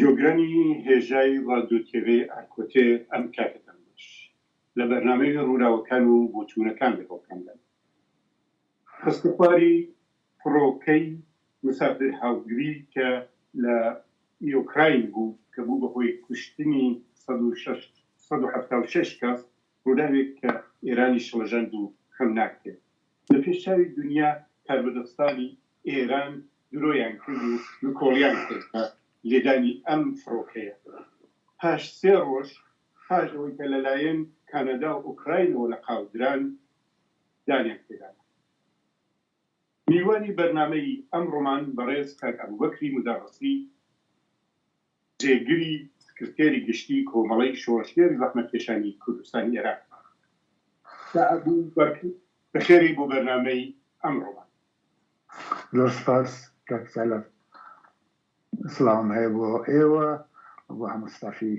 جۆگرانی هێژای ڕادیۆ تێڤێی ئارکۆتێ ئەم کاتە دەنگۆش لە بەرنامەی ڕووراوەکان و بۆچوونەکان لەگەڵ کام لایەن خستەخواری فڕۆکەی مسافر هاوگری کە لە یۆکراین بوو کە بوو بە هۆی کوشتنی سەد و شەش سەد و حەفتا و شەش کەس ڕووداوێک کە ئێرانی شڵەژەند و کەم ناکرێ لە پێش چاوی دونیا کاربەدەستانی ئێران درۆیان کرد و نکۆڵیان کرد بە لێدانی ئەم فڕۆکەیە پاش سێ ڕۆژ پاش ئەوەی کە لە لایەن کانادا و ئۆکراینەوە لە قاو دران دانیان پێدا نا. میوانی بەرنامەی ئەمڕۆمان بەڕێز کاک ئەبوبەکری مدەڕسی، جێگری سکرتێری گشتیی کۆمەڵەی شۆڕشگێڕی زەحمەتکێشانی کوردستانی ئێران. کاک ئەبوبەکر بەخێرێی بۆ بەرنامەی ئەمڕۆمان. زۆر سپاس کاک چالاک. سڵاوم هەیە بۆ ئێوە و بۆ هەموو ستافی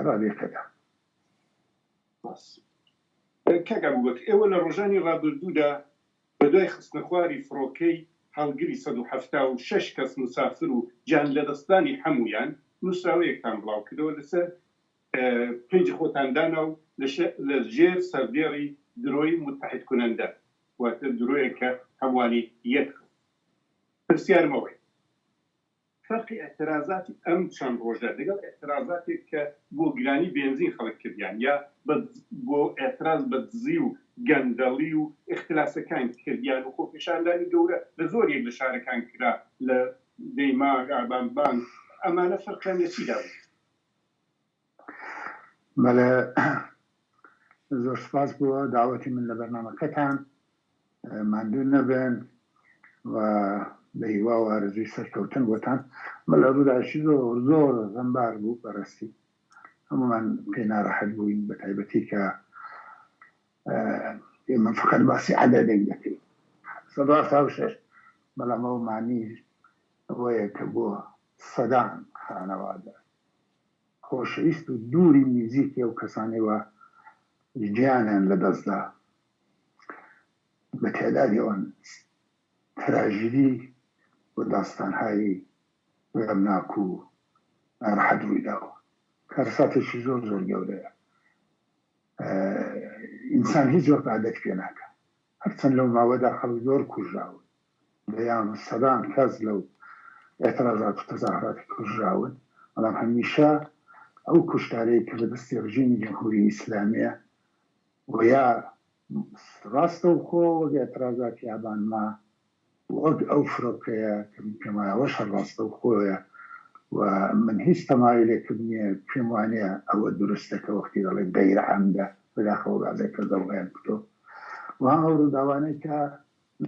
ڕادیۆ پێدا. سپاس. کاک ئەبوبەکر ئێوە لە ڕۆژانی ڕابردوودا بە دوای خستنەخواری فڕۆکەی هەڵگری سەد و حەفتا و شەش کەس موسافر و گیانلەدەستدانی حەموویان، نووسراوەیەکتان بڵاوکردەوە لەسەر پەیجی خۆتان دانا و لە ژێر سەردێڕی درۆی متحد کننده، واتە درۆیەک کە هەمووانی یەک خست. پرسیارم ئەوەیە. فەرقی ئیعترازاتی ئەم چەند ڕۆژە لەگەڵ ئیعترازاتێک کە بۆ گرانی بێنزین خەڵک کردیان یا بە بۆ ئیعتراز بە دزی و گەندەڵی و ئیختلاسەکان کردیان و خۆپێشاندانی گەورە لە زۆریەک لە شارەکان کرا لە دەیماغ، ئابان بان، ئەمانە فەرقیان لە چیدا بوو؟ بەڵێ زۆر سوپاس بۆ داوەتی من لە بەرنامەکەتان ماندوو نەبن و بە هیوا و ئارزوی سەرکەوتن بۆتان بە لە ڕووداوی زۆر زۆر غەمبار بوو بەڕاستی هەمومان پێ ناڕەحەت بووین بە تایبەتی کە ئێمە فقط باسی عددێک دەکەین سەد و هەفتا و شەش بەڵام ئەو معنی ئەوەیە کە بۆ سەدان خانەوادە خۆشەویست و دووری نزیکی ئەو کەسانەی وا گیانیان لە دەست دا بە تێدادی ئەوان تراژیدی و داستانهایی غەمناک و نارەحەت رووی داوە کارەساتێکی زۆر زۆر گەورەیە ئینسان هیچ وەک عادەت پێ ناکا هەرچەند لەو ماوەدا خەڵک زۆر کوژراون دەیان و سەدان کەس لەو ئێترازات و تەزاهوراتی کوژراون، بەڵام هەمیشە ئەو کوشتارەی کە لە دەستی ڕژیمی جمهوری ئیسلامیە و یا ڕاستەوخۆ وەک ئێترازاتی ئابان ما و وەک ئەو فرۆکەیە کە من پێم وایە ئەوەش هەر ڕاستەوخۆیە و من هیچ تەمایلێکم نیە پێم وانیە ئەوە دروستە کە وەختی دەڵێن غیرعەمدە بەداخەوە بەعزێک کەس دەڵێن کتۆ و هەم ئەو ڕووداوانەی کە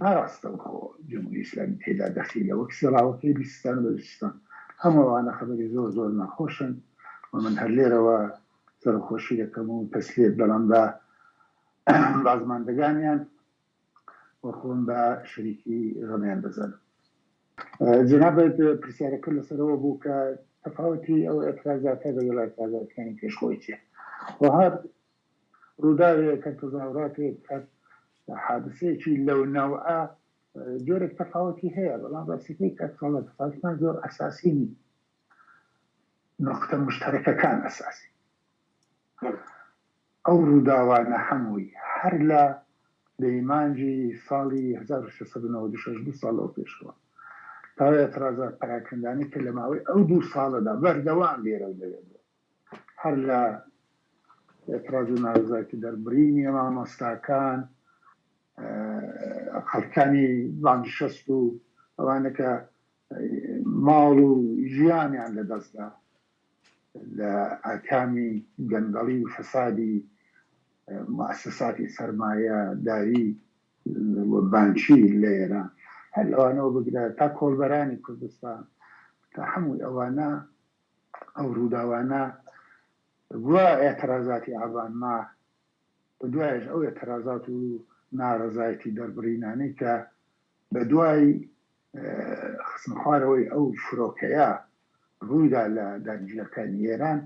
ناراستەوخۆ جمهوری ئیسلامی تێدا دەخیلە وەک سێڵاوەکەی بیستان و بەلوچستان. هەموو ئەوانە خەبەری زۆر زۆر ناخۆشن و من هەر لێرەوە سەرەخۆشی دەکەم و تەسلیەت دەڵێم بە بازماندەگانیان و خۆم بە شەریکی غەمیان دەزانم. جەنابت پرسیارەکەت لەسەر ئەوە بوو کە تەفاوەتی ئەو ئێترازاتە لەگەڵ ئێترازاتەکانی پێش خۆی چیە؟ وەهاب ڕووداوێکە، تەزاوراتێک، حادسەیەکی لەو نەوعە جۆرێک تەفاوەتی هەیە، بەڵام ڕاستیەکەی کاک تاڵە تەفاوتمان زۆر ئەساسی نین، نوقتە موشتەرەکەکان ئەساسین. ئەو ڕووداوانە هەمووی هەر لە دەیمانجی ساڵی هەزار و سێ سەد و نەوەد و شەش، دوو ساڵ لەوە پێشەوە، تاوە ئێتڕازات پەراکەندانەی کە لە ماوەی ئەو دوو ساڵەدا بەردەوام لێرەو لەوێ بووە، هەر لە ئێتڕاز و نارەزایەتی دەربڕینی مامۆستاکان، خەڵکانی بانگشەست و ئەوانە کە ماڵ و ژیانیان لە دەست دا لە ئاکامی گەندەڵی و فەسادی موئەسەساتی سەرمایەداری و بانکی لە ئێران هەر لەوانەوە بگرە تا کۆڵبەرانی کوردستان تا هەمووی ئەوانە ئەو ڕووداوانە بووە ئێترازاتی ئابان ما بە دوایەش ئەو ئێترازات و نارەزایەتی دەربڕینانەی کە بە دوای خستنە خوارەوەی ئەو فرۆکەیە ڕوویدا لە دانیشگاکانی ئێران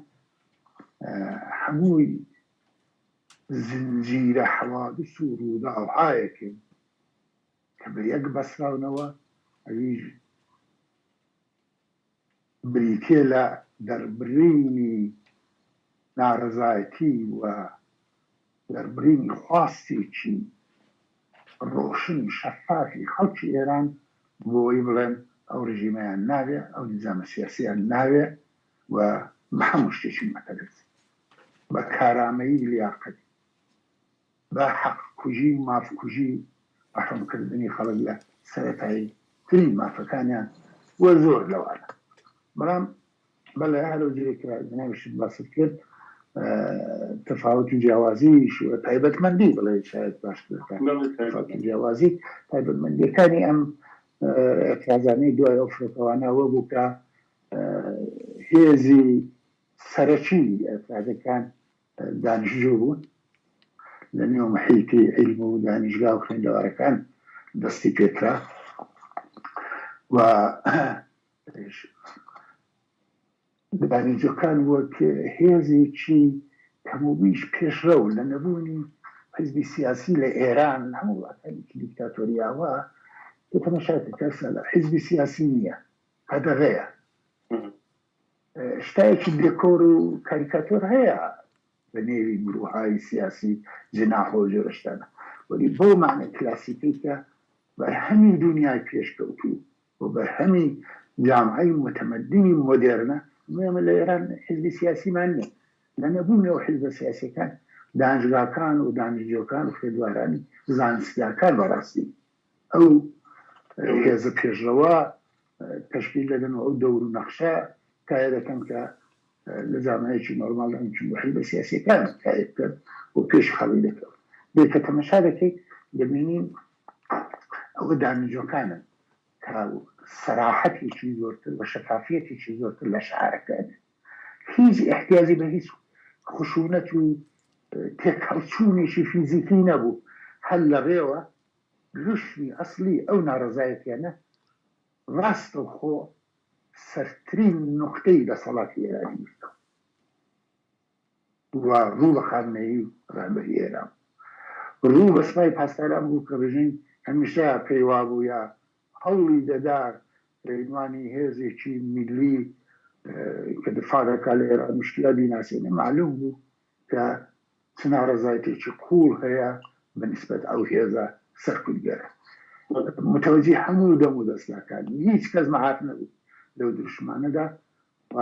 هەمووی زنجیرە حەوادس و ڕووداوهایەکن کە بە یەک بەسراونەوە ئەویش بریتییە لە دەربڕینی نارەزایەتی و دەربڕینی خواستێکی ڕۆشن و شەفافی خەڵکی ئێران بۆ ئەوەی بڵێن ئەو ڕژیمەیان ناوێ، ئەو نیزامە سیاسییەیان ناوێ و بە هەموو شتێکی مەتەرەزی، بە کارامەیی، لیاقەتی. بە حەق کوژی و ماف کوژی و ڕەحم کردنی خەڵک لە سەرەتایی ترین مافەکانیان و زۆر لەوانە بەڵام بەڵێ هەرو جۆرێک کە جەنابیشت باست کرد تەفاوت و جیاوازی تایبەت مەندی بڵێ شاید باشتر تەفاوت و جیاوازی تایبەت مەندیەکانی ئەم ئەترازانەی دوای ئەو فرۆکەوانە وە بوو کە هێزی سەرەکی ئەترازەکان دانیشتجو بوون لە نێو محیتی عیلم و دانیشگا و خوێندەوارەکان دەستی پێ کرا و دانیشجوەکان وەک هێزێکی کەموبیش پێشرەو لە نەبوونی حزبی سیاسی لە ئێران هەموو وڵاتانێکی دیکتاتۆریاوە تەمەشاکە کەسە لە حزبی سیاسی نییە قەدەغەیە ستایەکی دێکۆر و کاریکاتۆر هەیە بە نێوی گرووهای سیاسی جناح و جۆرە شتانە وەلی بەو مەعنای کلاسیکەی کە بەرهەمی دونیای پێشکەوتوو و بەرهەمی جامعەی موتەمەدینی مۆدێرنە ئەمەی ئەمە لە ئێران حیزبی سیاسیمان نیە لە نەبوونی ئەو حیزبە سیاسیەکان دانشگاکان و دانشجۆکان و خوێندوارانی زانستگاکان بەڕاستی ئەو هێزە پێشڕەوە تەشکیل دەکەن و ئەو دەور و نەخشە تایە دەکەن کە لە زانایەکی نۆرماڵ لە ئەمچون بە حیزبە سیاسیەکان تایە بکەن و پێشی خەڵک دەکەون بێ کە تەمەشا دەکەیت دەبینین ئەوە دامنجۆکانن کە سەراحەتێکی زۆرتر و شەفافیەتێکی زۆرتر لە شعارەکە ئەبێت هیچ احتیاجی بە هیچ خشونەت و تێکهەڵچوونێکی فیزیکی نەبوو هەر لە ڕێوە لوشمی ئەسڵی ئەو ناڕەزایەتیانە ڕاستەوخۆ سەرترین نوقتەی دەسەڵاتی ئێرانی گرتوە و ڕوو بە خامنەیی ڕێبەری ئێران ڕوو بە سپای پاسداران بوو کە ڕژیم هەمیشە پێی وابوو یا هەوڵی دەدا ڕێنوانی هێزێکی میللی کە دفاع دەکا لە ئێران مشکلە بیناسێنێ مەعلوم بوو کە چ ناڕەزایتێکی قووڵ هەیە بە نیسبەت ئەو هێزە سەرکوتگەرە. متەوەجی هەموو دەم و دەستگاکان بوو، هیچ کەس مەعاف نەبوو لەو دروشمانەدا و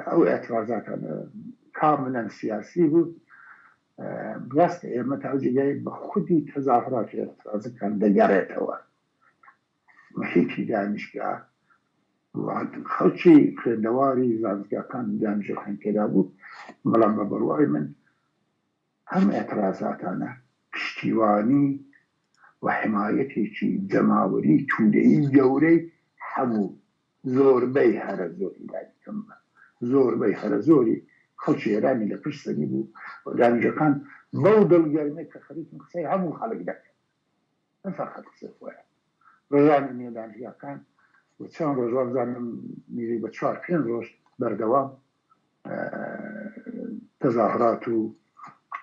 ئەو ئێترازاتانە کاملا سیاسی بوو. ڕاستە ئێمە تاوجێگای بە خودی تەزاهوڕات و ئێترازەکان دەگەڕێتەوە. محیتی دانشگا و خەڵکی خوێندەواری زانستگاکان دانشجوەکان تێدا بوو، بەڵام بە بڕوای من ئەم ئێترازاتانە پشتیوانی و حمایەتێکی جەماوەری تودەیی گەورەی هەموو زۆربەی هەرە زۆری لانی کەم بە زۆربەی هەرە زۆری خەڵکی ئێرانی لە پشت سەری بوو و دانشجوەکان بەو دڵگەرمەی کە خەریکن قسەی هەموو خەڵک دەکەن، نە فەرهاد حسێن خۆیان ڕژانە نوێ دانشگاکان و چەند ڕۆژ وابزانم نزیک بە چوار پێنج ڕۆژ بەردەوام تەزاهرات و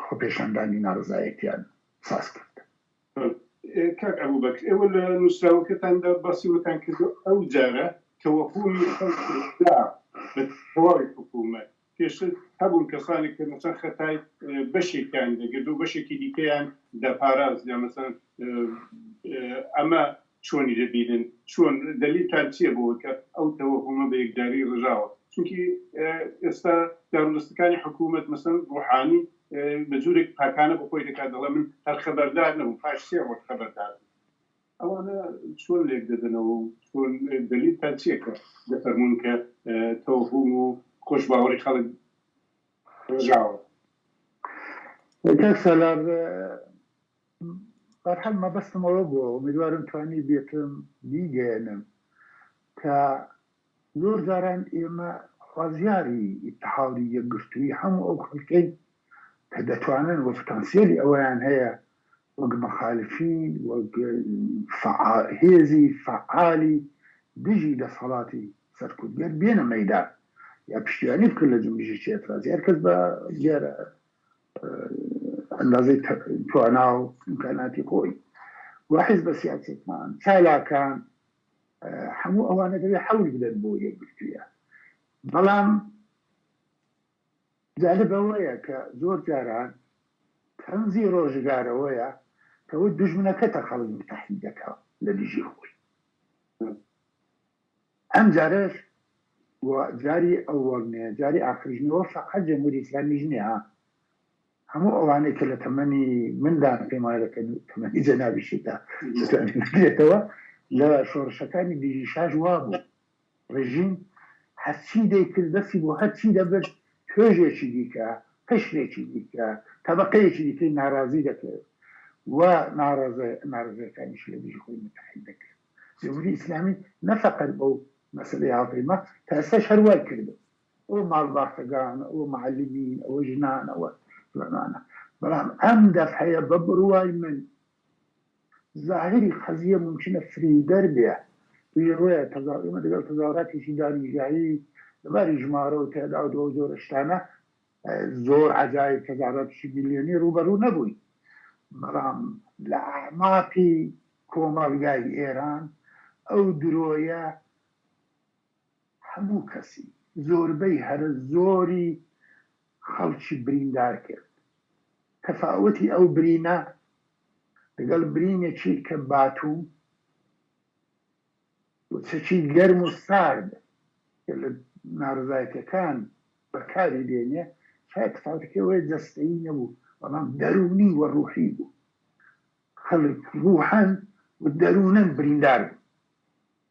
خۆپێشاندانی ناڕزایەتیان ساز کرد. کاک ئەبو بەکر ئێوە لە نووسراوەکەتاندا باسی وەتان کردو ئەو جارە تەوەهومی خەڵکی دا بە تەواوی حکوومەت پێشتر هەبوون کەسانێک کە مەسەن خەتای بەشێکیان دەگرت و بەشێکی دیکەیان دەپاراست یا مەسەن ئەمە چۆنی دەبینن چۆن دەلیلتان چییە بۆوە کە ئەو تەوەهومە بە یەکجاری ڕژاوە چونکی ئێستا دارودەستەکانی حکوومەت مەسەن ڕوحانی بە جوورێک پاکانە بۆ خۆی دەکات دەڵێ من هەر خەبەردار نەبووم پاش سێ ڕۆژ خەبەردار بووم. ئەوانە چۆن لێک دەدەنەوە و چۆن دەلیلتان چیە کە دەفەرموون کە تەوەهوم و خۆشباوەڕی خەڵک ڕژاوە؟ کاک سالار بەرحال مەبەستم ئەوە بووە ئومیدوارم توانیبێتم بیگەیەنم کە زۆر جاران ئێمە خوازیاری ئیتحادی یەکگرتووی هەموو ئەو خەڵکەین کە دەتوانن و پتانسیەلی ئەوەیان هەیە وەک مخالفین وەک هێزی فەعالی دژی دەسەڵاتی سەرکوتگەر بێنە مەیدان یا پشتیوانی بکەن لە جومبشێکی ئێترازی هەر کەس بە دیارە ئەندازەی توانا و ئیمکاناتی خۆی و حیزبە سیاسیەکان چالاکان هەموو ئەوانە دەبێت حەول بدەن بۆ یەکگرتوویە بەڵام جالب ئەوەیە کە زۆر جاران تەنزی ڕۆژگارەوەیە کەەوە دژمنەکەتە خەڵک متحی دەکا لە دژی خۆی ئەم جارش جاری ئەوەڵ نیە جاری ئاخرژنەوە فقط جمهوری ئسلامی ژنێ ها هەموو ئەوانەی کە لە تەمەنی مندان، پێم وایە لە تەمەنی جەنابیشتدا دەتوانێت بگرێتەوە، لە شۆڕشەکانی دژی شاش وابوو ڕێژیم هەرچی دەیکرد، دەستی بۆ هەرچی دەبرد، توێژێکی دیکە، قشرێکی دیکە، تەبەقەیەکی دیکەی ناڕازی دەکرد و ناڕەزایەکانیشی لە دژی خۆی متحد دەکرد. جمهوری ئیسلامی نە فەقەت بەو مەسەلەی هاوپەیما، تا ئێستاش هەر وای کردووە. ئەوە ماڵباتەگانە ئەوە معەلمین ئەوە ژنان ئەوە فلانانە بەڵام ئەم دەفعەیە بە بڕوای من زاهری قەزیە مومکینە فریودەر بێ توی ڕوێ تەزا ئێمە دەگەڵ تەزاوراتێکی دانیشگایی لەباری ژمارە و تێداو دو جۆرە شتانە زۆر عەجایب تەزاوراتیشی ملیۆنی ڕوبەڕوو نەبووین بەڵام لە ئەعماقی کۆمەڵگای ئێران ئەو درۆیە هەموو کەسی زۆربەی هەرە زۆری خەڵکی بریندار کرد تەفاوەتی ئەو برینە لەگەڵ برینێکی کە باتوم و چەکی گەرم و سارد کە لە نارەزایەتیەکان بەکاری دێنێ شایە تەفاوەتەکەی ئەوەیە جەستەیی نەبوو بەڵام دەروونی و ڕوحی بوو خەڵک ڕوحەن و دەروونەن بریندار بوون.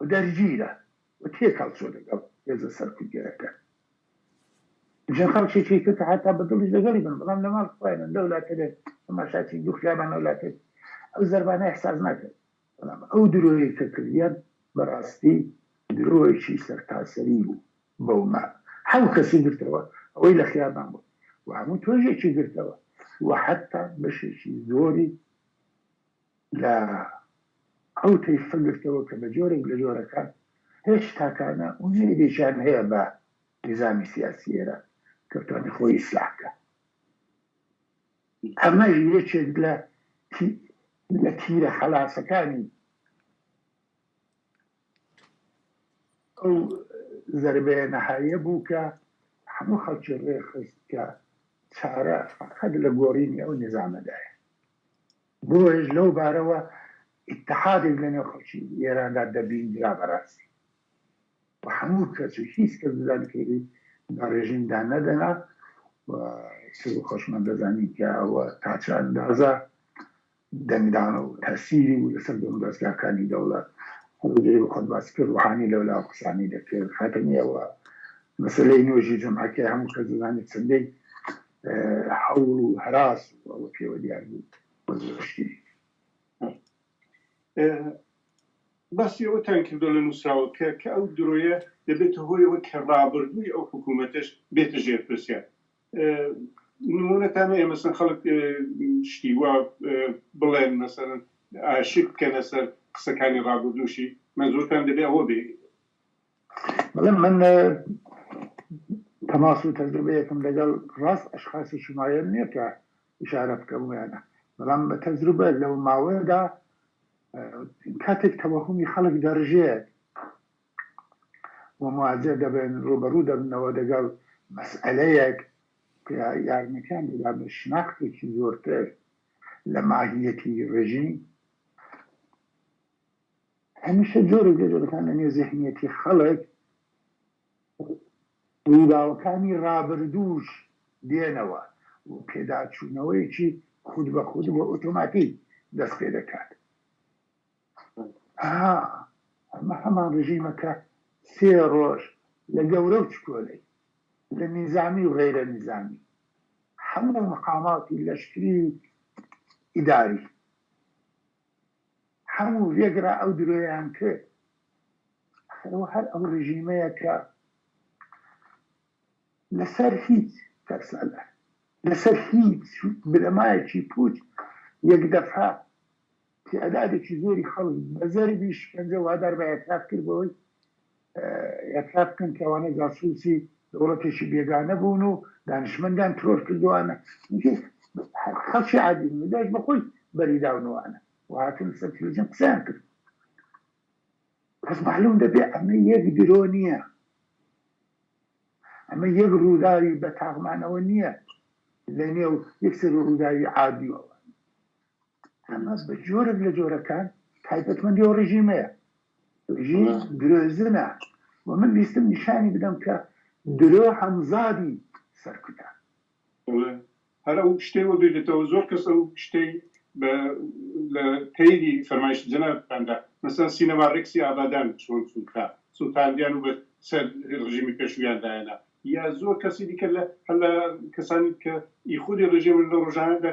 و دەرگیرە و تێکەڵ چووە لەگەڵ هێزە سەرکوتگەرەکان چەند خەڵکێکی تر کە حەتا بە دڵیش لەگەڵی بن بەڵام لە ماڵ خۆیانن لەو لاتەێ تەماشاچی دوو خیابانە و لاتێ ئەو زەربانە ئیحساس ناکرد بەڵام ئەو درۆیەی کە کردیان بەڕاستی درۆیەکی سەرتاسەری بوو بەو ما حەو کەسی گرتەوە ئەوەی لە خیابان بوو و هەموو تۆژێکی گرتەوە و حەتا بەشێکی زۆری لە ئەو تەیفە گرتەوە کە بە جۆرێک لە جۆرەکان هێج تاکانە و نەیلێکیان هەیە بە نیزامی سیاسی ئێران کە بتوانێ خۆی ئیسلاح کا. ئەمەش یەکێک لە تی لە تیرە خەلاسەکانی ئەو زەربەیە نەهایە بوو کە هەموو خەڵکی ڕێخست کە چارە فەقەت لە گۆڕینی ئەو نیزامەدایە. بۆیەش لەو بارەوە ئیتحادێک لە نێو خەڵکی ئێراندا دەبیندرا بە راستی و هەموو کەس و هیچ کەس دەزانی کە ئیدی بە رێژیم دا نەدەنا و ئیتر بۆ خۆشمان دەزانین کە ئەوە تا چ ئەندازە دەنگدانە و تەسیری بوو لە سەر دەم و دەزگاکانی دەوڵەت. هەڵی دەرێ بە خۆت باسی کرد روحانی لەو لا قسانی دەکرد خاتەمی ئەوە مەسەلەی نۆژی جەمعەکەی هەموو کەس دەزانێ چەندەی هەوڵ و هەراس ئەوە پێوە دیار بوو بە زۆر شتی باسی ئەوەتان کردو لە نووسراوەکە کە ئەو درۆیە دەبێتە هۆیەوە کە ڕابردووی ئەو حکوومەتەش بێتە ژێر پرسیار نمونەتانە ئێمەسن خەڵک شتی وا بڵێن مەسەرن ئاشک بکەنە سەر قسەکانی ڕابردووشی مەزورتان دەبێ ئەوە بێ بەڵێ من تەماس و تەجروبەیەکم لەگەڵ ڕاست ئەشخاسێکی معەیەن نیە کە ئیشارە بکەم وێنە بەڵام بە تەجروبە لەو ماوەیەدا کاتێک تەوەهومی خەڵک دەڕژێت و مواجه دەبن ڕوبەڕوو دەبنەوە دەگەڵ مەسئلەیەک کە یارمەتیان دەدا بە شناختێکی زۆرتر لە ماهیەتی ڕژیم هەمیشە جۆرێک لە جۆرەکان لە نێو زێهنیەتی خەڵک ڕووداوەکانی ڕابردووش دێنەوە و پێداچوونەوەیەکی خود بە خود و ئۆتۆماتیک دەست پێ دەکات ها ئەمە هەمان ڕژیمە کە سێ ڕۆژ لە گەورە و چکۆلەی لە نیزامی و غەیرە نیزامی هەموو مقاماتی لەشکری و ئیداری هەموو ڤێگرا ئەو درۆیان کرد ئەخر ئەوە هەر ئەو ڕژیمەیە کە لەسەر هیچ کەس لەسەر هیچ بنەمایەکی پوچ یەک دەفعە تعدادێکی زۆری خەڵک بە زەربی شکەنجە وادار بە ئێعتراف کرد بەوەی ئێعتراف بکەن کە ئەوانە جاسووسی دەوڵەتێکی بێگانە بوون و دانشمەندیان ترۆر کردووانە چونکی خەڵکی عادی بوون داش بە خۆی بەری داونوانە و هاتن سەر تلویزیۆن قسەیان کرد پس معلوم دەبێ ئەمە یەک درۆ نییە ئەمە یەک ڕووداوی بە تاغمانەوە نییە لە نێو یەکسەر ڕووداوی عادیەوە حەماس بە جۆرێک لە جۆرەکان تایبەتمەندی ئەو ڕژیمەیە ژین درۆزنە و من ویستم نیشانی بدەم کە درۆ حەمزادی سەرکوتە. هەر ئەو شتەی وە بیردێتەوە زۆر کەس ئەو شتەی بە لە تەیری فەرمایشتی جەنابتاندا مەسەن سینەما ڕێکسی ئابادان چۆن سووتا سووتاندیان و بە سەر ڕژیمی پێشوویان دایەنا یا زۆر کەسی دیکە لە هەر لە کەسانی کە ی خودی ڕژیمن لە ڕۆژانەدا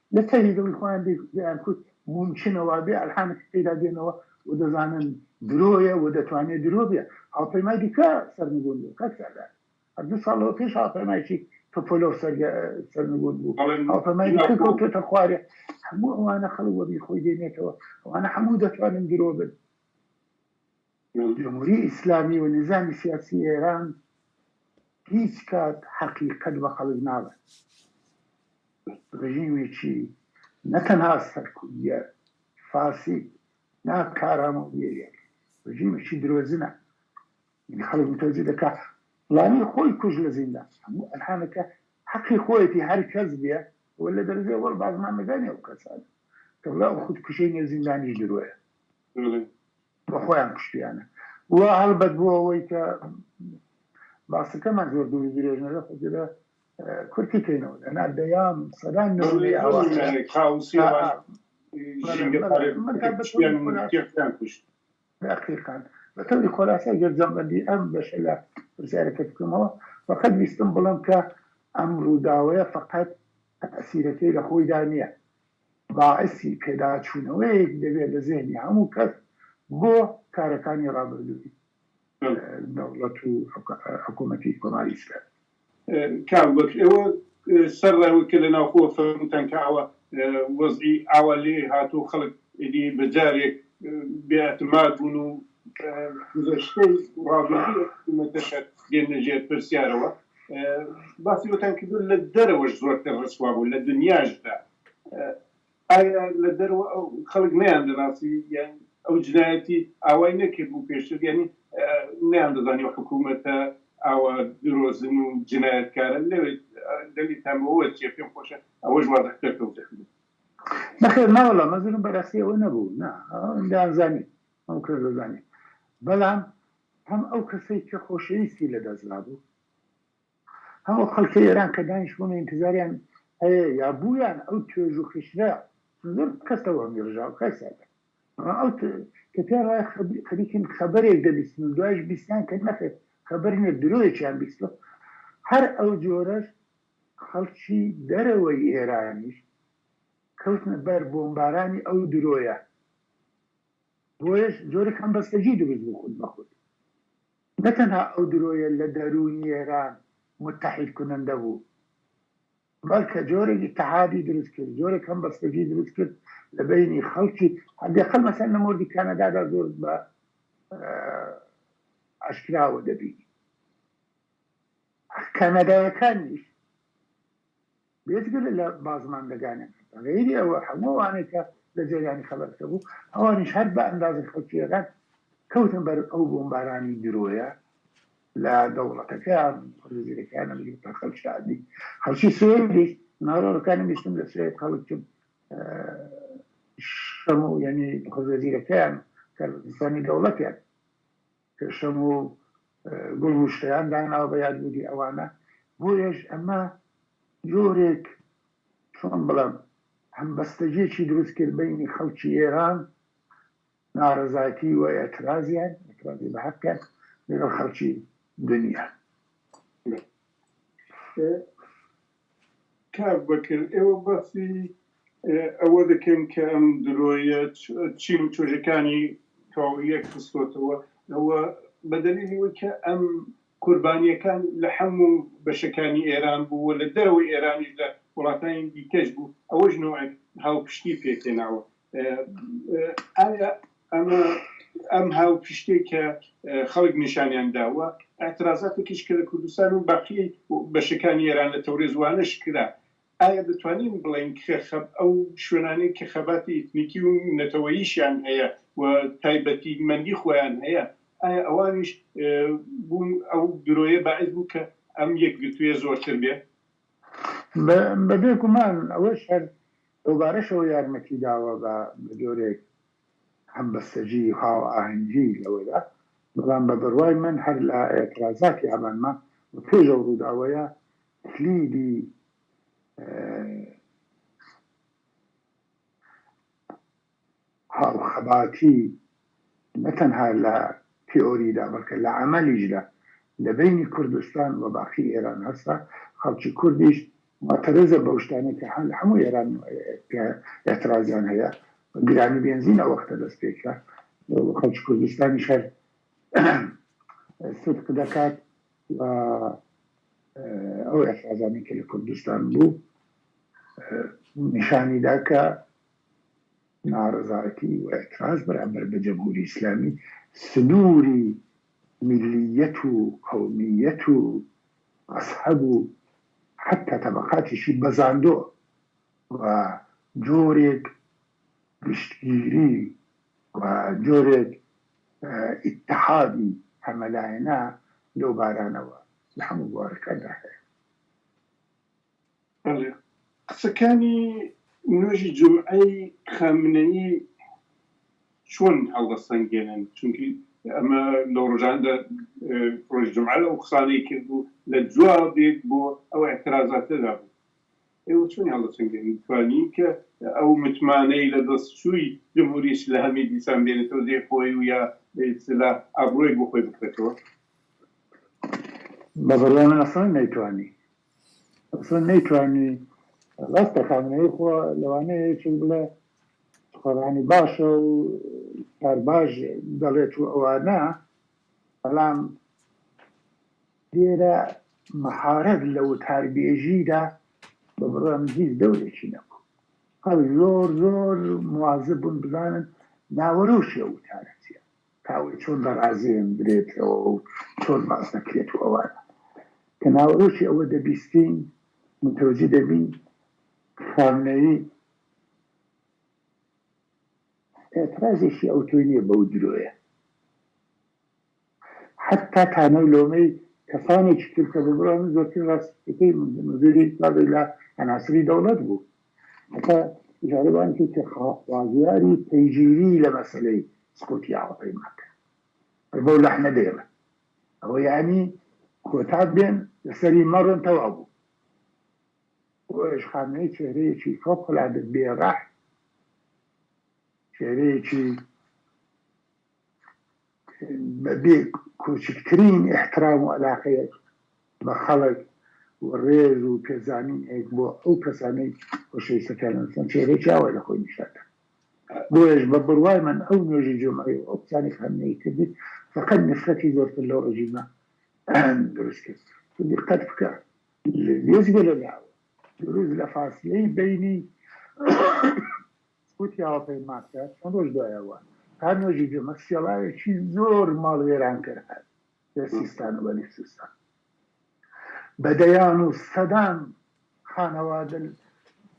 لە تەنی دڵی خۆیان دەیانکوت، مومکینە وابێ ئەلهامێکی پێدا دێنەوە و دەزانن درۆیە و دەتوانێ درۆ بێ. هاوپەیمای دیکە سەرنگوون بوو، کاک سەردار، هەر دوو ساڵ لەوە پێش هاوپەیمایەکی تۆپۆلۆڤ سەرنگوون بوو، هاوپەیمای دیکە کەوتۆتە خوارێ. هەموو ئەوانە خەڵک وەبیر خۆی دێنێتەوە، ئەوانە هەموو دەتوانن درۆ بن. جمهوری ئیسلامی و نیزامی سیاسی ئێران هیچ کات حەقیقەت بە خەڵک ناڵێن. ڕژیمێکی نە تەنها سەرکوتگەر، فاسد، نا کارامە و بێ لێک، ڕژیمێکی درۆزنە. یەعنی خەڵک متەوجە دەکا فڵانی خۆی کوشت لە زیندان. هەموو ئەرهانەکە حەقی خۆیەتی هەر کەس بێ و لە دەرەجەی وەڵ بازنامەکانی ئەو کەسانە. کە بڵێ ئەو خودکوشەی نێو زیندانیش درۆیە. و خۆیان کوشتیانە و هەڵبەت بۆ ئەوەی کە باسەکەمان زۆر دوور و درێژ نەبێت خۆ دێرە کورتی بکەینەوە لەنا دەیان و سەدان نموونەی ئاوا هەیە کاوسی و ژینگە پەرستیان کوشت. دەقیقەن بە تەوری خۆلاسای گەر جەمەندی ئەم بەشە لە پرسیارەکەت بکەمەوە فەقەت ویستم بڵێم کە ئەم ڕووداوەیە فەقەت تەئسیرەکەی لە خۆیدا نییە باعسی پێداچوونەوەیەک دەبێت لە زێهنی هەموو کەس بۆ کارەکانی ڕابردووی دەوڵەت و حکوومەتی کۆماری ئیسلامی. کاک بەکر ئێوە سەر ڕێوە کە لە ناوخۆوە فەرمووتان کە ئاوا وەزعی ئاوا لێ هاتووە و خەڵک ئیدی بە جارێک بێ ئەتماد بوون و گوزەشتەی ڕابردووی ئەو حکوومەتەشە دێننە ژێر پرسیارەوە، باسی وتان کردو لە دەرەوەش زۆرتر ڕسوا بوو لە دنیاشدا ئایا لە دەرەوە خەڵک نیان دەناسی یان ئەو جنایەتی ئاوای نەکرد بوو پێشتر یعنی نیان دەزانی و حکوومەتە ئاوا درۆزن و جنایەتکارە لەوێت دەلیتان بەوە چیە پێم خۆشە ئەوەش وازەکتەر تەوزێ نەخێر ناوەڵا مەزرم بەرەسیەوە نەبوو نا دەیانزانی ئەو کردزانی بەڵام هەم ئەو کەسەی کە خۆشەویستی لەدەستدابوو، هەم ئەو خەڵکەی ئێران کە دانیشتبوون و ئینتزاریان هەیە یا بوویان، ئەو توێژ و خیشتنە زۆر کەسە وەهمی ڕژاوە کاک سادات. بەڵام ئەو کە پێیان وایە خەریکن خەبەرێک دەبیستن و دوایش بیستیان کە نەخێر خەبەر نییە درۆیەکیان بیستووە، هەر ئەو جۆرەش خەڵکی دەرەوەی ئێرانیش کەوتنە بەر بۆمبارانی ئەو درۆیە. بۆیەش جۆرێک هەمبەستەگی دروست بوو خود بە خود نە تەنها ئەو درۆیە لە دەروونی ئێران موتەحید کونەندە بوو بەلکە جۆرێک ئیتحادی دروست کرد جۆرێک هەمبەستەگی دروست کرد لە بەینی خەلکی حداقل مەسەن لە مۆردی کەنەدادا زۆر بە ئاشکراوە دەبینی کەنەدایەکانیش بێجگە لە لە بازماندەگانێ بە غەیری ئەوە هەموو ئەوانەی کە لە جەریانی خەبەرەکە بوو ئەوانیش هەر بە ئەندازەی خەڵکییەکان کەوتن بەر ئەو بۆمبارانی درۆیە لە دەوڵەتەکەیان و جزیرەکەیان نەبگرێت تا خەڵکی عادی خەڵکی سوێدیش ناوەڕۆکانی بیستم لە سوێد خەڵکن شەمە و یەنی خۆجزیرەکەیان کاربەدەستانی دەوڵەتیان پێشەم و گوڵ نوشتەیان داناوە بە یادبوونی ئەوانە، بۆیەش ئەمە جۆرێک چۆن بڵێم هەمبەستەگیەکی دروست کرد بەینی خەڵکی ئێران نارەزایتی و ئێترازیان ئێترازی بە هەقیان لەگەڵ خەڵکی دنیا. کاک بەکر ئێوە باسی ئەوە دەکەن کە ئەم درۆیە چین و توێژەکانی تەواویەک خستۆتەوە ئەوە بە دەلیلی وەی کە ئەم قوربانیەکان لە حەموو بەشەکانی ئێران بوو و لە دەرەوەی ئێرانیش لە وڵاتانی دیکەش بوو ئەوەش نۆعێک هاوپشتی پێکهێناوە ئایا ئەمە ئەم هاوپشتەی کە خەڵک نیشانیان داوە، ئیعترازاتێکیش کە لە کوردستان و باقی بەشەکانی ئێران لە تەورێز وانەش کرا، ئایا دەتوانین بڵێین کە ئەو شوێنانەی کە خەباتی ئیتنیکی و نەتەوەییشیان هەیە و تایبەتیمەندی خۆیان هەیە، ئایا ئەوانیش بوون ئەو درۆیە باعس بوو کە ئەم یەکگرتوویە زۆرتر بێ؟ بەبێ گومان ئەوەش هەر دووبارەشەوە یارمەتی داوە بە جۆرێک هەمبەستەجی و هاوئاهەنگی لەوەدا، بەڵام بە بڕوای من هەر لە ئێترازاتی ئابان ما و پێش ئەو ڕووداوەیە کلیلی هاوخەباتی نە تەنها لە تیئۆریدا بەڵکە لە عەمەلیشدا لە بەینی کوردستان و باقی ئێران هەسە، خەڵکی کوردیش موعتەرزە بەو شتانەی کە لە هەموو ئێران ئێترازیان هەیە، گرانی بێنزین ئەو وەختە دەست پێ کرا و خەڵکی کوردستانیش هەر سدق دەکات و ئەو ئێترازانەی کە لە کوردستان بوو نیشانی دا کە ناڕەزایەتی و ئیعتراز بەرامبەر بە جەمهوری ئیسلامی سنووری میللییەت و قەومییەت و مەزهەب و حەتتا تەبەقاتیشی بەزاندوە و جۆرێک گشتگیری و جۆرێک ئیتحادی هەمەلایەنە لەو بارانەوە لە هەموو بوارەکاندا هەیە. بەڵێ قسەکانی نوێژی جومعەی خامنەیی چۆن هەڵدەسەنگێنن چونکی ئەمە لەو ڕۆژانەدا ڕۆژی جومعە ئەو قسانەی کرد و لە جوابێک بۆ ئەو ئیعترازاتەدا بوو ئێوە چۆنی هەڵدەسەنگێنن توانی کە ئەو متمانەی لە دەست چووی جمهوری ئیسلامی دیسان بێنێتەوە دێ خۆی و یا بە ئیستیلاح ئابڕووێک بۆ خۆی بکرێتەوە؟ بە بڕوای من ئەسڵەن نەیتوانی ئەسڵەن نەیتوانی ڕاستە خامنەیی خۆ لەوانەیە یەکێک بڵێ سوخەڕانی باشە و کار باش دەڵێت و ئەوانە بەڵام لێرە مەهارەت لە وتاربێژیدا بە بڕوام هیچ دەورێکی نەبوو هەر زۆر زۆر موازە بوون بزانن ناوەرۆشی ئەو وتارەتیە کاوە چۆن دەڕازێندرێتەوە و چۆن باس دەکرێت و ئەوانە. کە ناوەرۆکی ئەوە دەبیستین، متەوەجی دەبین خامنەیی ئێترازێکی ئەوتۆی نییە بەو درۆیە. حەتتا تانەو لۆمەی کەسانێکی تر کە ببڕن، زۆرترین ڕاستییەکەی مدیری بابی لە عەناسری دەوڵەت بوو. هەتا جارێوانێکی تر خوازیاری پەیگیری لە مەسەلەی سکۆتیاوە پەیمان کرد. بەس بەو لەحنە دەیڵێم. ئەوە یانی کۆتا بێن لەسەری مەڕن تەواو بوو. بۆ ئەویش خامنەیی چێهرەیەکی فەوقەلادە بێ ڕەحم، چێهرەیەکی. بە بێ کوچکترین ئیحترام و ئەلاقەیەک بە خەڵک و ڕێز و پێزانینێک بۆ ئەو کەسانەی خۆشەویستەکانیان دەزانن چێرەیەکی ئاوای لە خۆی نیشان دەدات. بۆیەش بە بڕوای من ئەو نوێژی جومعەی و ئەو قسانەی خامنەیی کردی فەقەت نفرەتی زۆرتر لەو ڕژیمە دروست کرد. تۆ دیققەت بکە لە وێستگە لە لاوە دروست لە فاسلەی بەینی وتی هاوپەیمانکە چەند ڕۆژ دوایەوە تا نوێژی جمە سێڵاوێکی زۆر ماڵ وێرانکەر هات لە سیستان و بەلوچستان بە دەیان و سەدان خانەوادە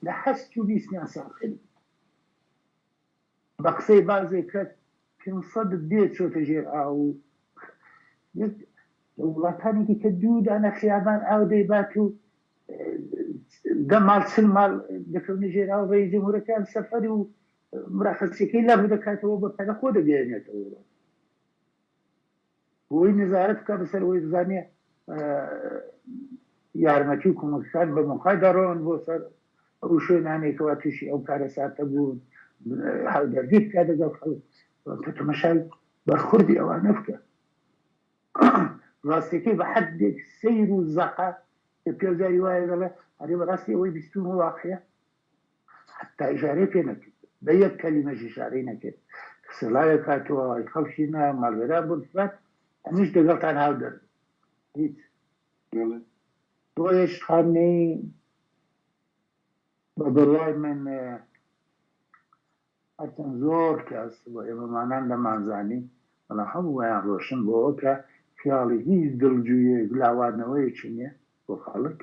لە هەست و بیستیان ساخ کرد بە قسەی بازێک کە کن سەدت دێ چۆتە ژێر ئاو و یەک لە وڵاتانی دیکە دوو دانە خیابان ئاو دەیبات و دە ماڵ چل ماڵ دەکەونە ژێر ئاو ڕێیس جمهورەکەیان سەفەر و مراخەسیەکەی لابردەکاتەوە بە پەلە خۆ دەگەیەنێتەوە ئەوڕۆ. بۆی نەزارەت بکا بەسەر ئەوەی بزانێ یارمەتی و کۆمەکەکان بە مۆقای دەڕۆن بۆ سەر ئەو شوێنانەی کەوا تووشی ئەو کارەساتە بوون هاودەردی بکا دەگەڵ خەڵک کە تەمەشای بەرخوردی ئەوانە بکە ڕاستەکەی بە حەدێک سەیر و زەقە کە پیاو جاری وایە دەڵێ ئەرێ بەڕاستی ئەوەی بیستوومە واقعە حەتتا ئیشارەی پێ نەکرد، بە یەک کەلیمەش ئیشارەی نەکرد کە سڵاوێک هاتووە، ئەی خەڵکی نا، ماڵوێران بوون فلان، ئەمنیش دەگەڵتان هاودەردم. هیچ. بەڵێ. بۆیەش خامنەیی بە بڕوای من هەرچەند زۆر کەس و ئێمەمانان دەمانزانی، بەڵام هەموویان ڕۆشن بۆوە کە خیاڵی هیچ دڵجوییەک و لاواردنەوەیەکی نیە بۆ خەڵک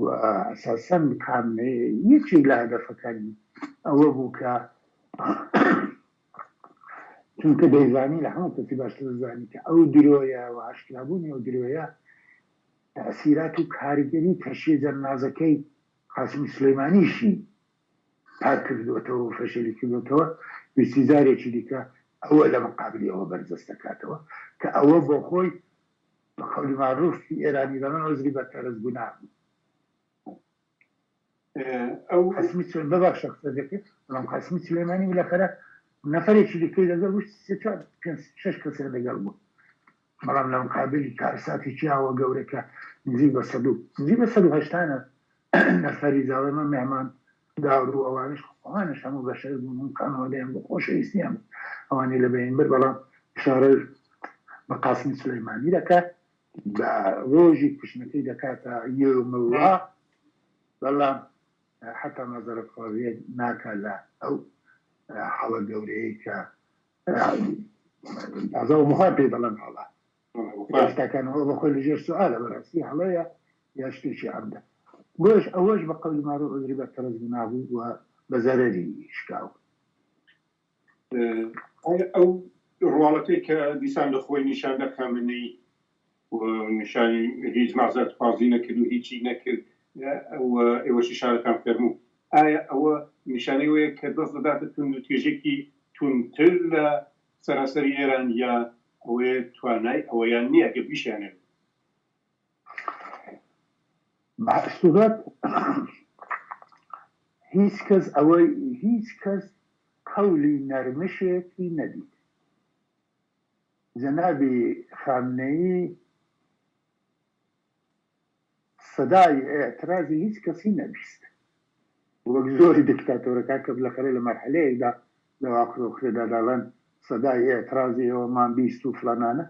و ئەساسەن خامنەیی یەکێک لە هەدەفەکانی ئەوە بوو کە چونکە دەیزانی لە هەموو کەسی باشتر دەزانی کە ئەو درۆیە و ئاشکرابوونی ئەو درۆیە تەئسیرات و کاریگەری تەشیجەننازەکەی قاسمی سولەیمانیشی پاک کردووەتەوە و فەشەلی کردووەتەوە، دووسیزارێکی دیکە ئەوە لە مقابلی ئەوە بەرجەست دەکاتەوە کە ئەوە بۆ خۆی بە قەولی ماروف ی ئێرانی دەڵێن عوزری بە کەرەج گوناه بوو. قاسمی سولەیمانی، ببەخشە قسەت دەکرد، بەڵام قاسمی سولەیمانی بلافەرە نەفەرێکی دیکەی لەگەڵ بوو، سێ چوار پێنج شەش کەسیان لەگەڵ بوون، بەڵام لە مقابلی کارساتی پیاوە گەورەکە نزیک بە سەد و نزیک بە سەد و هەشتا نەفەری زاوای من مێهمان دار و ئەوانیش ئەوانیش هەموو بەشەر بوون و خانەوادەیان بوو خۆشەویستیان بوو ئەوانی لە بەین برد بەڵام ئشارە بە قاسمی سولەیمانی دەکا بە ڕۆژی کوشتنەکەی دەکاتە یۆم اللە بەڵام حەتا مەزەرەخوازیە ناکا لە ئەو حاڵە گەورەیەی کە تازە وەها پێی دەڵێن هەڵە ڕاستەکان ئەوە بەخۆی لەژێر سوالە بەڕاستی هەڵەیە یا شتێکی عەمدە بۆش ئەوەش بە قەولی مارە عذری بە تەرز نابوو و بە زەرەری شکاو ئەو ڕواڵەتەی کە دیسان لە خۆی نیشاندا کامنەی و نیشانی هیچ مەعزەرەت خوازی نەکرد و هیچی نەکرد و ئێوەشی شارەتان فەرموو ئایا ئەوە نیشانەی وەیە کە دەست دەداتە توند و تێژێکی توند تر لە سەرانسەری ئێران یا ئەوەیە توانای ئەوەیان نیە گەر بیشیانەوێت بەعسوبەت هیچ کەس ئەوەی هیچ کەس قەولی نەرمشێتی نەدیت جەنابی خامنەیی سەدای ئیعترازی هیچ کەسی نەبیست وەک زۆری دکتاتۆرەکان کە بلەخەرێ لە مەرحەلەیەکدا لە واکرە و کرێدا دەڵێن سەدای ئیعترازی ئێوەمان بیست و فلانانە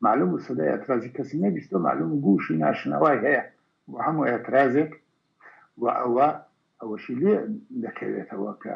مەعلوم بوو سەدای ئیعترازی کەسی نەبیست و مەعلوم گووشی ناشنەوای هەیە بۆ هەموو ئیعترازێک و ئەوە ئەوەشی لێ دەکەوێتەوە کە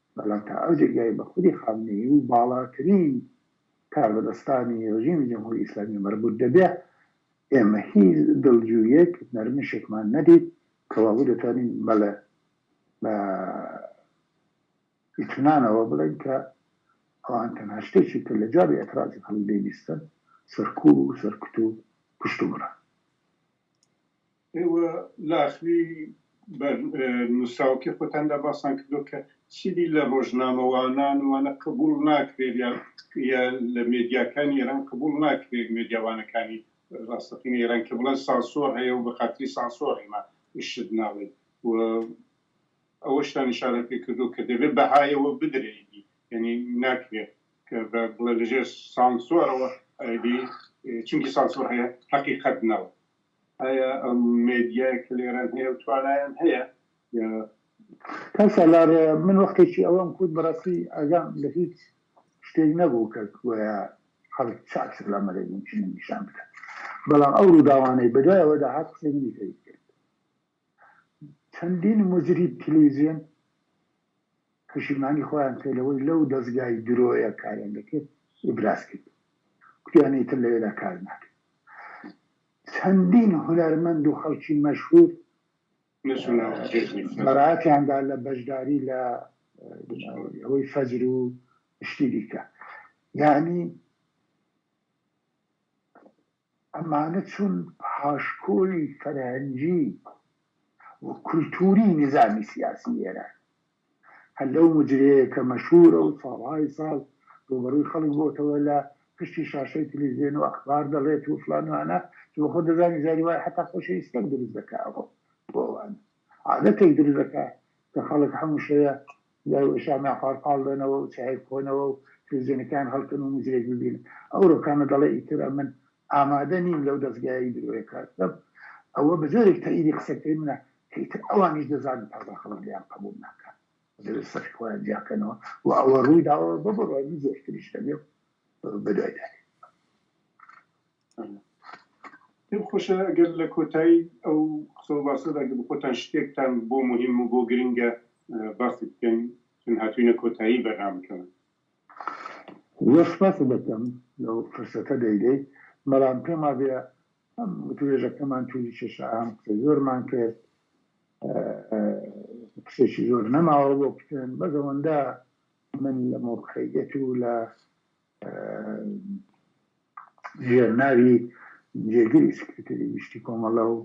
بەڵام تا ئەو جێگای بە خودی خامنەیی و باڵاترین کاربەدەستانی ڕژیمی جمهوری ئیسلامی مەربوط دەبێ، ئێمە هیچ دڵجوییەک، نەرمشێکمان نەدیت، کەوابوو دەتوانین بەڵێ بە ئیتمنانەوە بڵێین کە ئەوان تەنها شتێکی کە لە جوابی ئێترازی خەڵک دەیبیستن سەرکوو و سەرکوت و کوشتوبڕە. ئێوە لاخلی بە نووسراوەکەی خۆتان دا باسان کردووە کە چیدی لە ڕۆژنامەوانان و وانە قبووڵ ناکرێت یا یا لە مێدیاکانی ئێران قبووڵ ناکرێت مێدیا وانەکانی ڕاستەقینەی ئێران کە بڵێن سانسۆر هەیە و بە خاتری سانسۆر ئێمە شت ناڵێین و ئەوەشتان ئیشارەت پێ کردووە کە دەبێت بەهایەوە بدرێ ئیدی یعنی ناکرێت کە بە بڵێ لەژێر سانسۆرەوە ئیدی چونکی سانسۆر هەیە حەقیقەت ناو ئایا ئەم مێدیایە کە لێرەن هەیە و توانایان هەیە یا. کەسە لار من وەختێکی ئەوەم کوت بەڕاستی ئاگام لە هیچ شتێک نەبوو کە گۆیا خەڵک چاکتر لە مەلێ مومکینە نیشان بدات بەڵام ئەو ڕووداوانەی بەدوای ئەوەدا هات قسەی منی تەیت کرد. چەندین موجریب تلویزیۆن پەشیمانی خۆیان کرد لەوەی لەو دەزگای درۆیە کاریان دەکرد ئیبراز کرد کوتیان ئیتر لەوێدا کار ناکرد چەندین هونەرمەند و خەڵکی مەشهور بەڕاتیاندا لە بەشداری لە ئەوەی فەجر و شتی دیکە یعنی ئەمانە چون پاشکۆی فەرهەنگی و کولتووری نیزامی سیاسی ئێران، هەر لەو مجرەیە کە مەشهوورە و ساڵهای ساڵ ڕووبەڕووی خەڵک بۆتەوە لە پشتی شاشەی تلیڤزیۆن و ئەخبار دەڵێت و فڵان وانە، چون خۆ دەزانێت جاری وایە حەتا خۆشی ئیستەک دروست دەکا بۆ ئەوانە، عادەتێک دروست دەکا کە خەڵک هەموو شەوێ لای ئوسامە پاڵ پاڵ بنەوە و چایەک بخۆنەوە و تلویزیۆنەکەیان هەڵکەن و موزیک ببینن. ئەو ڕۆکانە دەڵێ ئیتر ئەمن ئامادە نیم لەو دەزگایەی درۆیە کار بکەم. ئەوە بە جۆرێک تەئیدی قسەکەی منە کە ئیتر ئەوانیش دەزانن تازە خەڵک لێیان قەبووڵ ناکات زلە سەفی خۆیان جیاکەنەوە و ئەوە ڕووی داوە بە بڕوای من زۆرتریش دەبێ و بەدوای دەێن. پێم خۆشە گەر لە کۆتایی ئەو قسە و باسەدا گەر خۆتان شتێکتان بۆ موهیم و بۆ گرنگە باسی بکەن چون هاتووینە کۆتایی بەرنامەکەمان. زۆر سپاست دەکەم لەو پرسەتە دەیدەی، بەڵام پێم وابێ هەم وتووێژەکەمان تووری کێشە هەم قسەی زۆرمان کرد، قسەیەکی زۆر نەماوە بۆ بکەن، بەس ئەوەندە من لە مەوقعیەت و لە ژێرناوی جێگری سکرتێری گشتی کۆمەڵە و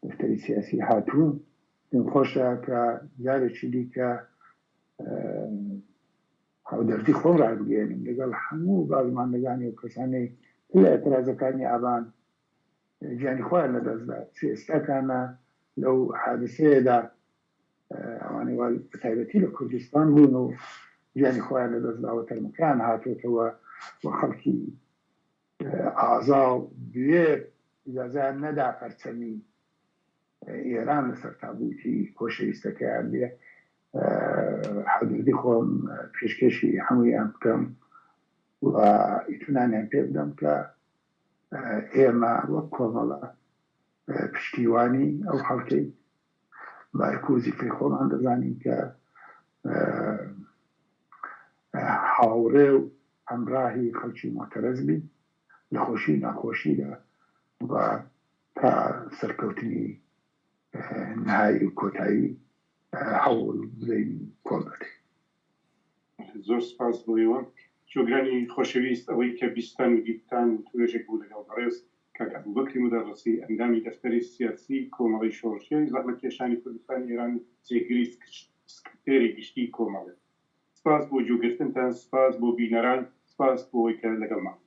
دەفتەری سیاسی هاتوون پێم خۆشە کە جارێکی دیکە هاودەردی خۆم ڕابگەێنم لەگەڵ هەموو بازماندەگانی و کەسانی لە ئەترازەکانی ئابان گیانی خۆیان لەدەستدا چ ئێستاکانە لەو حادسەیەدا ئەوانەی وا بەتایبەتی لە کوردستان بوون و گیانی خۆیان لەدەست داوە تەرمەکەیان هاتوێتەوە و خەڵکی ئازا و بوێر ئیجازەیان نەدا پەرچەمی ئێران لەسەر تابوتی خۆشەویستەکەیان بێ حەزردی خۆم پێشکێشی هەموویان بکەم و ئیتونانیان پێ بدەم کە ئێمە وەک کۆمەڵە پشتیوانی ئەو خەڵکەی مارکۆزی کە خۆمان دەزانین کە هاوڕێ و هەمراهی خەڵکی مۆتەرەز بی لە خۆشی و ناخۆشیدا و تا سەرکەوتنی نهایی و کۆتایی هەوڵ بدەین کۆڵ دەدەین. زۆر سپاس بۆ ئێوە. شۆگرانی خۆشەویست، ئەوەی کە بیستتان و دیتتان و توێژێک بوو لەگەڵ بەڕێز کاک ئەبوبەکری مودەڕسی، ئەندامی دەفتەری سیاسی کۆمەڵەی شۆڕشگێڕی زەحمەتکێشانی کوردستانی ئێران و جێگری سکرتێری گشتیی کۆمەڵە. سپاس بۆ گوێگرتنتان، سپاس بۆ بینەران، سپاس بۆوەی کە لەگەڵمان بوون.